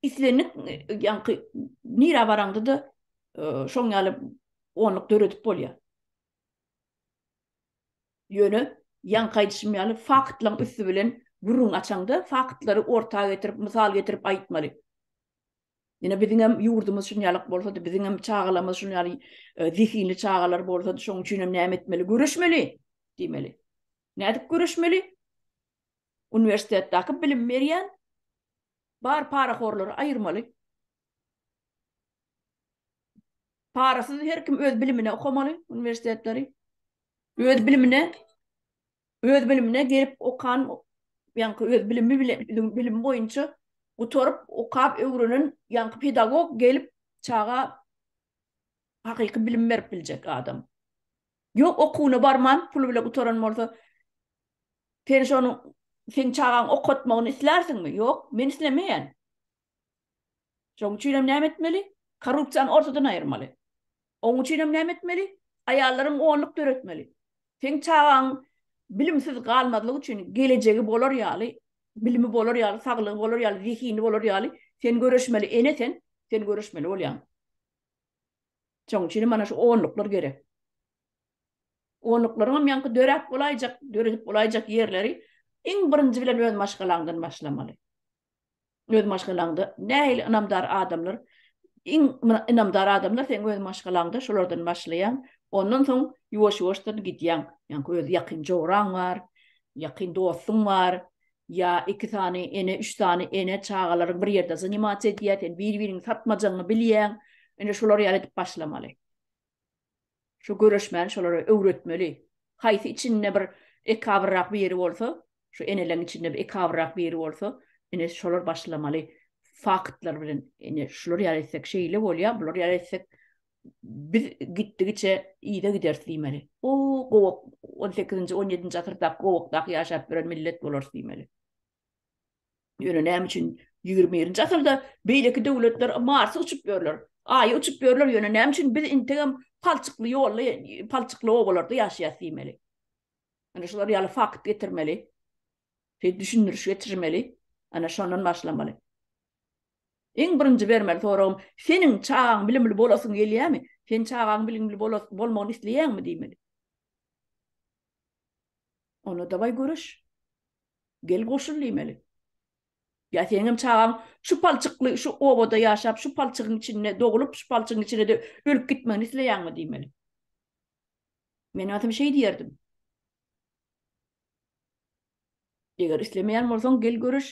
islendik ýaňky nira baraňda da şoň ýaly onluk döredip bolýar. Ýöne ýaňky aýdyşym ýaly faktlaryň üsti bilen gürrüň açaňda faktlary orta getirip, mysal getirip aýtmaly. Ýöne biziň hem ýurdumyz şuň ýaly bolsady, biziň hem çagalarymyz şuň ýaly zehinli çagalar bolsady, şoň üçin hem näme etmeli? Göreşmeli diýmeli. Nädip göreşmeli? Uniwersitetdaki bilim berýän bar parahorlary aýyrmaly. Parasyz her kim öz bilimine okamaly uniwersitetleri. Öz bilimine öz bilimine gelip okan ýaňky öz bilimi bilen bilimi boýunça gutaryp okap öwrenen ýaňky pedagog gelip çaga hakyky bilim berip biljek adam. Ýok okuwyna barman pul bile gutaran bolsa Sen şonuň seň çagaň okatmagyny islärsiňmi? Ýok, men islemeýän. Şoň üçinem näme etmeli? Korrupsiýany ortadan aýyrmaly. Oň üçinem näme etmeli? Aýallaryň gonluk döretmeli. Seň çagaň bilimsiz galmazlyk üçin gelejegi bolar ýaly, bilimi bolar ýaly, saglygy bolar ýaly, zehini bolar ýaly sen göreşmeli, ene sen, sen göreşmeli bolýaň. Şoň üçinem mana şu onluklar gerek. Onuklaryňam ýaňky döräp bolaýjak, döredip bolaýjak ýerleri iň birinji bilen öz maşgalaňdan başlamaly. Öz maşgalaňda nähili ynamdar adamlar, iň ynamdar adamlar seň öz maşgalaňda, şolardan başlaýaň, ondan soň ýuwaş-ýuwaşdan gidýäň. Ýaňky öz ýakyn joraň bar, ýakyn dostuň bar, ýa iki sany ene, üç sany ene, çagalaryň bir ýerde zanimasiýa edýär, sen bir-biriňi satmajagyňy bilýäň. Indi şolar ýaly edip başlamaly. Şu göreşmäni şolara öwretmeli. Haýsy içinde bir ekabyrrak bir ýeri bolsa, şu eneleň içinde bir ekabyrrak bir ýeri bolsa, ine şolar başlamaly faktlar bilen. Ine şular ýaly etsek şeýle bolýar, bular ýaly etsek biz gitdigiçe yza gideris diýmeli. O gowak on sekizinji, on ýedinji asyrdaky gowakdaky ýaşap ýören millet bolarys diýmeli. Ýöne näme üçin ýigrimi birinji asyrda beýleki döwletler Marsa uçup ýörler, Aýa uçup ýörler, ýöne näme üçin biz integem palçykly ýolly, palçykly obalarda ýaşaýas diýmeli. Ine şular ýaly fakt getirmeli. Şeýdip düşündiriş getirmeli. Ana şondan başlamaly. Iň birinji bermeli soragym, seniň çagaň bilimli bolasyň gelýärmi? Sen çagaň bilimli bolmagyny isleýäňmi diýmeli. Onda daway göreş. Gel goşul diýmeli. Ýa seňem çagaň şu palçykly şu obada ýaşap, şu palçygyň içinde doglup, şu palçygyň içinde-de ölüp gitmegini isleýäňmi diýmeli. Men atam şeý diýerdim. Eger islemeýän bolsaň, gel göreş.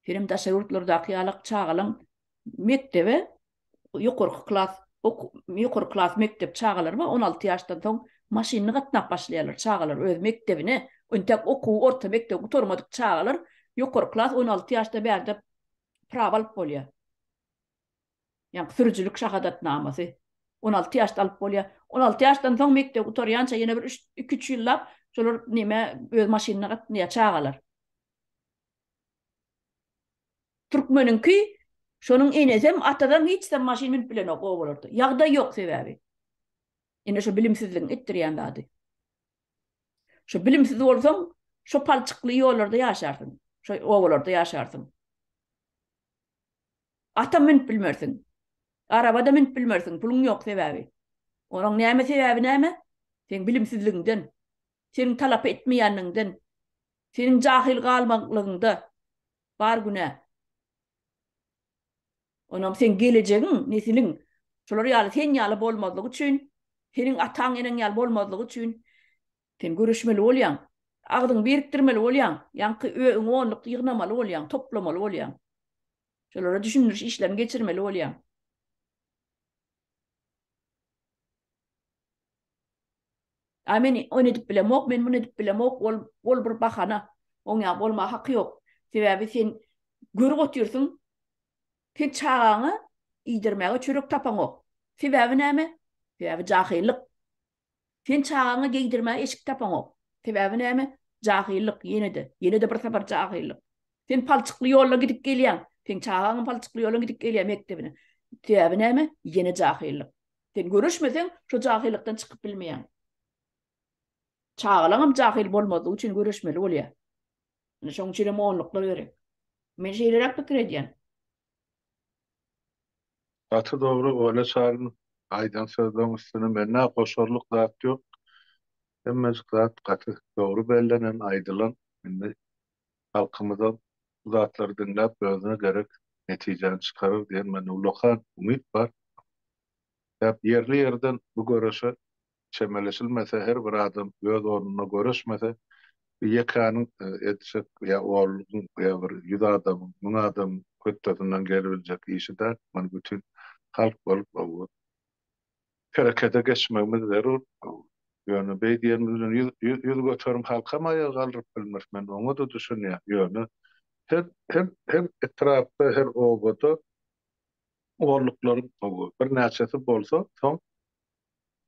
Hinem daşary ýurtlardaky ýalak çagalaň mekdebe ýokarky klas ýokarky klas mekdep çagalary bar on alty ýaşdan soň maşynly gatnap başlaýarlar çagalar öz mekdebine entek okuw orta mekdebi gutarmadyk çagalar ýokarky klas on alty ýaşda bärde prawa alyp bolýar ýaňky sürüjilik şahadatnamasy on alty ýaşda alyp bolýar on alty ýaşdan soň mekdebi gutarýança ýene bir üç iki üç ýyllap şolar nime öz maşynly gatnaýar çagalar. Türkmeniňki şonuň enesem atasam hiçsam maşyn münüp bilenok obalarda ýagdaý ýok sebäbi ine şo bilimsizligiň etdirýän zady şo bilimsiz bolsaň şo palçykly ýollarda ýaşarsyň şo obalarda ýaşarsyň atam münüp bilmersiň arabada münüp bilmersiň puluň ýok sebäbi onuň näme sebäbi näme seň bilimsizligiňden seniň talap etmeýänligiňden Seniň jahyl galmaklygyňda bar günä. Onam seň gelejegiň, nesiliň şolar ýaly sen ýaly bolmazlygy üçin, seniň ataň-eneň ýaly bolmazlygy üçin sen göreşmeli bolýaň. Agzyňy birikdirmeli bolýaň. Ýaňky öň onluk ýygnamaly bolýaň, toplamaly bolýaň. Şolara düşündiriş işlerini geçirmeli bolýaň. A men ony edip bilemok, men muny edip bilemok, ol, ol bir bahana. Oň ýaly bolmaga haky ýok. Sebäbi sen görüp otyrsyň, sen çagaňa iýdirmäge çörek tapaňok. Sebäbi näme? Sebäbi jahyllyk. Sen çagaňa geýdirmäge eşik tapaňok. Sebäbi näme? Jahyllyk, ýene-de, ýene-de bir sapar jahyllyk. Sen palçykly ýolla gidip gelýäň. Seň çagaňam palçykly ýola gidip gelýär mekdebine. Sebäbi näme? Ýene jahyllyk. Sen göreşmeseň, şo jahylykdan çykyp bilmeýäň. Çagalaňam jahyl bolmazlygy üçin göreşmeli bolýar. Ine, şonuň üçinem onluklar gerek. Men şeýleräk pikir edýän. Gaty dogry Ola Çaryn aýdan sözleň üstüne mennä goşarlyk zat ýok hemmejik zat gaty dogry bellenen aýdylan indi halkymyzam bu zatlary diňläp özüne gerek netijäni çykarar diýen mende ullakan umyt bar däp ýerli ýerden bu göreşe çemeleşilmese, her bir adam öz ornuna göreşmese, bu ýekäniň etjek ýa onlugyň, ýa bir ýüz adamyň, müň adamyň hötdesinden gelibiljek işi däl. Muny bütin halk bolup herekete geçmegimiz zerur. Ýöne beý diýenimiz bilen ýüz ýüz göterim halkam aýaga galdyryp bilmeris. Men oňa-da düşünýän. Ýöne her her her etrapda, her obada onluklaryň birnäçesi bolsa, soň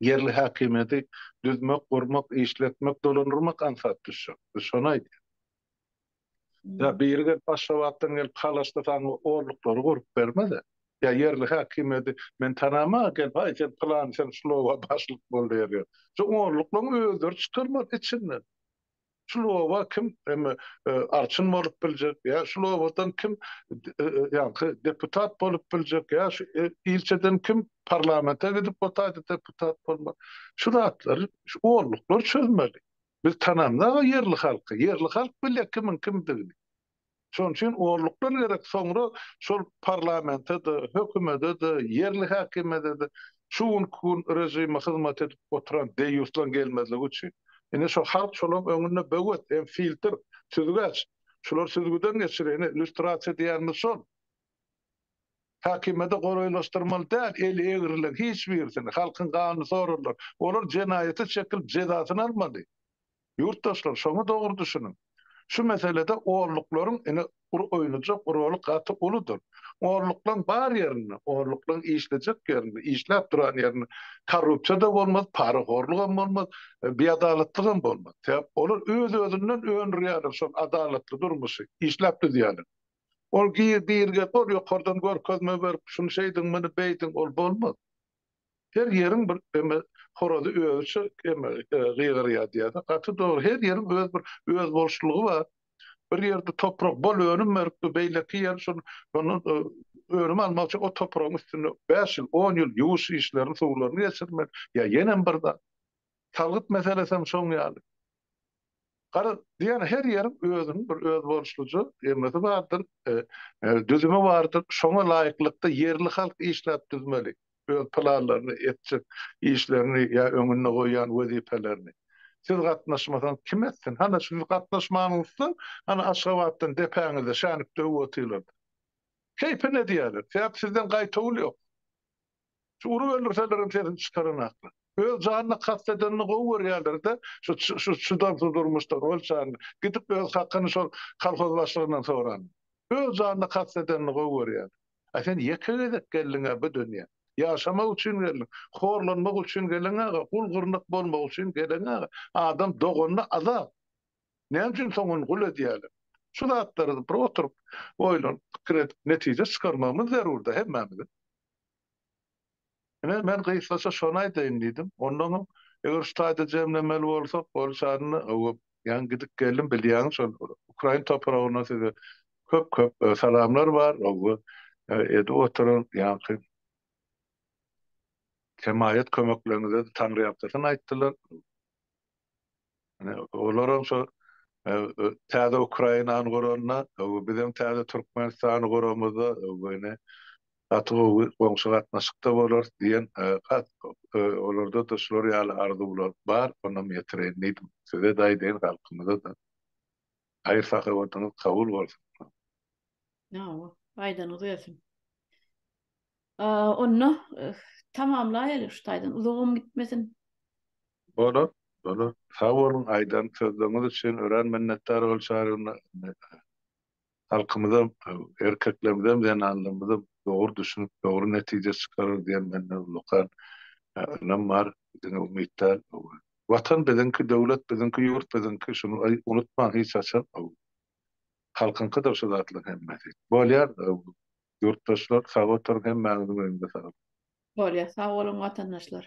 Ýerli häkimiýeti düzmek, gurmak, işletmek, dolandyrmak aňsat düşjek. Biz şony aýdýas. Ýa biri gelip Aşgabatdan gelip Halaşda saňa orluklary gurup bermez-ä. Ýa ýerli häkimiýeti men tanama-a gelip aý sen pylan sen şuloba başlyk bol diýer ýok. Şu orluklaryň özleri çykarmaly içinden. şul oba kim emme arçyn bolup biljek ýa şul obadan kim ýaňky deputat bolup biljek ýa şu ilçeden kim parlamente gidip bu taýda deputat bolmak şu zatlar şu olluklar çözmeli biz tanandag ýerli halky ýerli halk bilýä kimiň kimdigini Şonuň üçin orlukdan gerek soňra şol parlamente-de, hökümede-de, ýerli häkimiýede-de şu günki gün režime hyzmat edip oturan deýýuslaň gelmezligi üçin. Ine şo halk şolaň öňünde böwet, hem filtr, süzgäç. Şular süzgüden geçir, ine lýustrasiýa diýýänimiz şol. Häkimiýede golaýlaşdyrmaly däl eli egrilen hiç birisini, halkyň ganyny sorarlar. Olar jenaýaty çekilip jezasyny almaly. Ýurtdaşlar, şoňa dogry düşüniň. Şu meselede orluklaryň ine ury oýnajak roly gaty uludyr. Orluklaň bar ýerinde, orluklaň işlejek ýerinde, işläp duran ýerinde korrupsiýa-da bolmaz, parahorlugam bolmaz, biadalatlygam bolmaz. Sebäp olar öz-özünden öndürýärler şol adalatly durmuşy, işläp düzýärler. Ol gir-girge, ol ýokardan görkezme berip, şuny şeýdiň, muny beýdiň, ol bolmaz. Her ýeriň bir eme horazy özüçe eme gygyrýar diýýärler. Gaty dogry. Her ýeriň öz bir özboluşlygy bar. Bir ýerde toprak bol önüm beripdir, beýleki ýer şol şondan önüm almak üçin o topragyň üstünde bäş ýyl, on ýyl ýuwuş işlerini, suwlaryny geçirmeli. Ýa ýenem bir zat. Salgyt meselesem şoň ýaly. Garaz, diýýän her ýeriň özüniň bir özboluşlyja emesi bardyr, düzümi bardyr. Şoňa laýyklykda ýerli halk işläp düzmeli öz planlaryny, etjek işlerini ýa öňünde goýýan wezipelerini. Siz gatnaşmasaňyz kim etsin? Hana siz gatnaşmanyňyzda, hana Aşgabatdan depäňizde şänik döwüp otyrlar-da. Keýpine diýýärler. Sebäbi sizden gaýtawul ýok. Şu urup öldürsellerem sesini çykaranaklar. Öz janyna kast edenini gowy görýärler-de, şu şu çydamsyz durmuşdan ol çany. Gidip öz hakyny şol kolhoz başlygyndan soran. Öz janyna kast edenini gowy görýärler. A sen ýeke gezek geldiň-ä bu dünýä. Ýaşamak üçin geldiň. Horlanmak üçin geleňaga, gul gyrnak bolmak üçin geleňaga. Adam doganda azap. Näme üçin soň ony gul edýärler? Şu zatlary bir oturyp, oýlanyp, pikir edip, netije çykarmagymyz zerur-da hemmämiziň. Ine, men gysgaça şony aýdaýyn diýdim. Ondanam, eger şu taýda jemlemeli bolsak, boljagyny öwüp, ýaňy gidip geldim, bilýäňiz, şol ukrain topragyndan size köp-köp salamlar bar we edip oturan ýaňky hemaýat-kömekleriňize-de taňryýalkasyn aýtdylar. Yani olaram şu täze Ukrainany görende, bizem täze Türkmenistany göremizde, yani gaty gowy goňşy gatnaşykda bolarys diýen olarda-da şular ýaly arzuwlar bar, onam ýetireýin diýdim. Size-de aýdaýyn, halkymyza-da. Haýyr sahawatyňyz kabul bolsun. Hawa, aýdanyňyz gelsin. Onda tamamlaýaly şu taýdan, uzagam gitmesin. Bolar, bolar. Sag boluň aýdan sözleriňiz üçin örän minnetdar bolşaryn. Halkymyzam, erkeklerimizem, zenanlarymyzam dogry düşünip, dogry netije çykarar diýen mende ullakan ynam bar. Diňe umytdan Watan biziňki döwlet biziňki ýurt biziňki şuny unutmaň hiç haçan how halkyňkydyr şu zatlaň hemmesi. Bolýar how ýurtdaşlar sag oturyň hemmäňiziň öňüňde saglyk. Bolýar sag boluň watandaşlar.